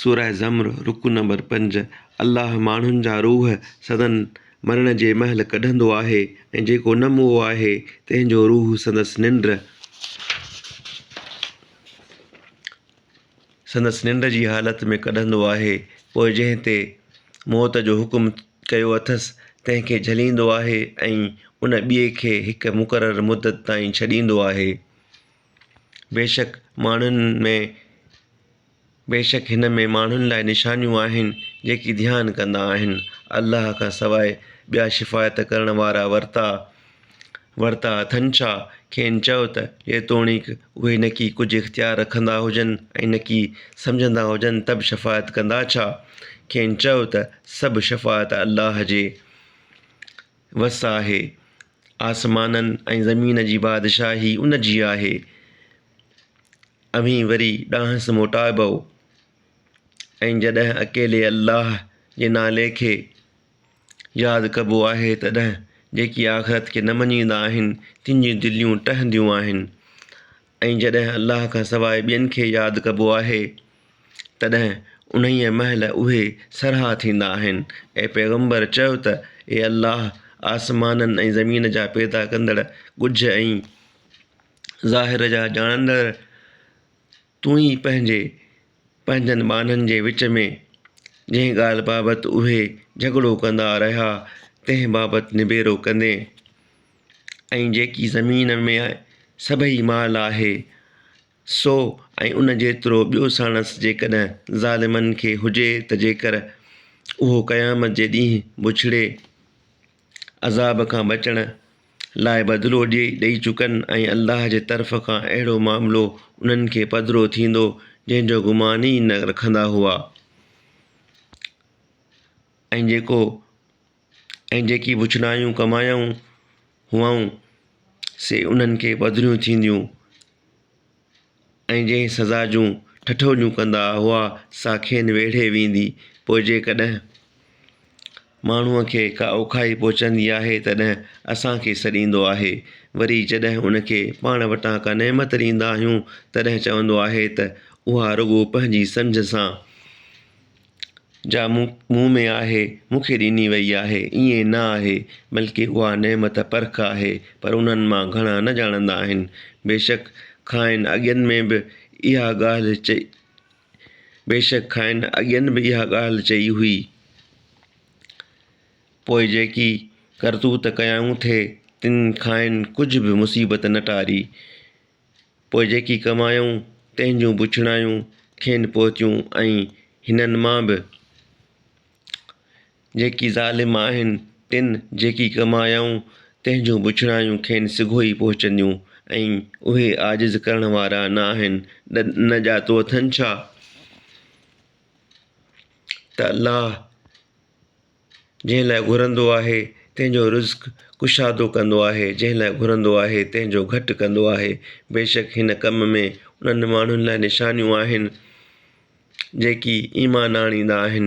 سوره زمر، رڪوع نمبر پنج، الله ماڻهن جا روح سندن مرڻ جي مهل ڪڍندو آهي ۽ جيڪو نه موئو آهي، تنهن جو روح سندس ننڊ، سندس ننڊ جي حالت ۾ ڪڍندو آهي، پوء جنهن تي موت جو حڪم ڪيو اٿس، تنهن کي جهليندو آهي ۽ ان ٻئي کي هڪ مقرر مدت تائين ڇڏيندو آهي. بيشڪ ماڻهن ۾ بيشڪ هن ۾ ماڻهن لاء نشانيون آهن جيڪي ڌيان ڪندا آهن الله کان سواء ٻيا شفاعت ڪرڻ وارا ورتا ورتا اٿن ڇا؟ کين چؤ ته جيتوڻيڪ اهي نڪي ڪجهه اختيار رکندا هجن ۽ نڪي سمجهندا هجن ته به شفاعت ڪندا ڇا؟ کين چؤ ته سڀ شفاعت الله جي وس آهي آسمانن ۽ زمين جي بادشاهي ان جي آهي. اوهين وري ڏانهس موٽائبؤ ۽ جڏهن اڪيلي الله جي نالي کي ياد ڪبو آهي تڏهن جيڪي آخرت کي نه مڃيندا آهن تن جون دليون ٽهنديون آهن. ۽ جڏهن الله کان سواء ٻين کي ياد ڪبو آهي تڏهن انهيء مهل اهي سرها ٿيندا آهن. اي پيغمبر! چؤ ته، اي الله! آسمانن ۽ زمين جا پيدا ڪندڙ، ڳجهه ۽ ظاهر جا ڄاڻندڙ، تون ئي پنهنجي پنهنجن ٻانهن جي وچ ۾ جنهن ڳالهه بابت اهي جهڳڙو ڪندا رهيا، تنهن بابت نبيرو ڪندين. ۽ جيڪي زمين ۾ سڀئي مال آهي سو ۽ ان جيترو ٻيو ساڻس جيڪڏهن ظالمن کي هجي ته جيڪر اهو قيامت جي ڏينهن بڇڙي عذاب کان بچڻ لاء بدلو ڏي ڏئي چڪن ۽ الله جي طرف کان اهڙو معاملو انهن کي پڌرو ٿيندو جنهن جو گمان ئي نه رکندا هئا ۽ جيڪو ۽ جيڪي وڇنايون ڪمايائون هئائون، سي انهن کي پڌريون ٿينديون ۽ جنهن سزا جون ٺٺوليون ڪندا هئا، سا کين ويڙهي ويندي. پوء جيڪڏهن ماڻهوء کي ڪا اوکائي پهچندي آهي، تڏهن اسان کي سڏيندو آهي. وري جڏهن ان کي پاڻ وٽان ڪا نعمت ڏيندا آهيون، تڏهن چوندو آهي ته اها رڳو پنهنجي سمجهه سان، جا مون مون ۾ آهي، مون کي ڏني وئي آهي، ائين نه آهي، بلڪه اها نعمت پرک آهي، پر انهن مان گهڻا نه ڄاڻندا آهن. بيشڪ کانئن اڳين ۾ به اها ڳالهه چئي بيشڪ کانئن اڳين به اها ڳالهه چئي هئي. پوء جيڪي ڪرتوت ڪيائون ٿي، تن کانئن ڪجهه به مصيبت نه ٽاري. پوء جيڪي ڪمايائون تنهن جون بڇڙايون کين پهتيون ۽ هنن مان به جيڪي ظالم آهن تن جيڪي ڪمايائون تنهن جون بڇڙايون کين سگهو ئي پهچنديون ۽ اهي عاجز ڪرڻ وارا نه آهن نه ڄاتو اٿن ڇا ته الله جنهن لاء گهرندو آهي، تنهن جو رزق ڪشادو ڪندو آهي، جنهن لاء گهرندو آهي، تنهن جو گهٽ ڪندو آهي، بيشڪ هن ڪم ۾ انهن ماڻهن لاء نشانيون آهن، جيڪي ايمان آڻيندا آهن.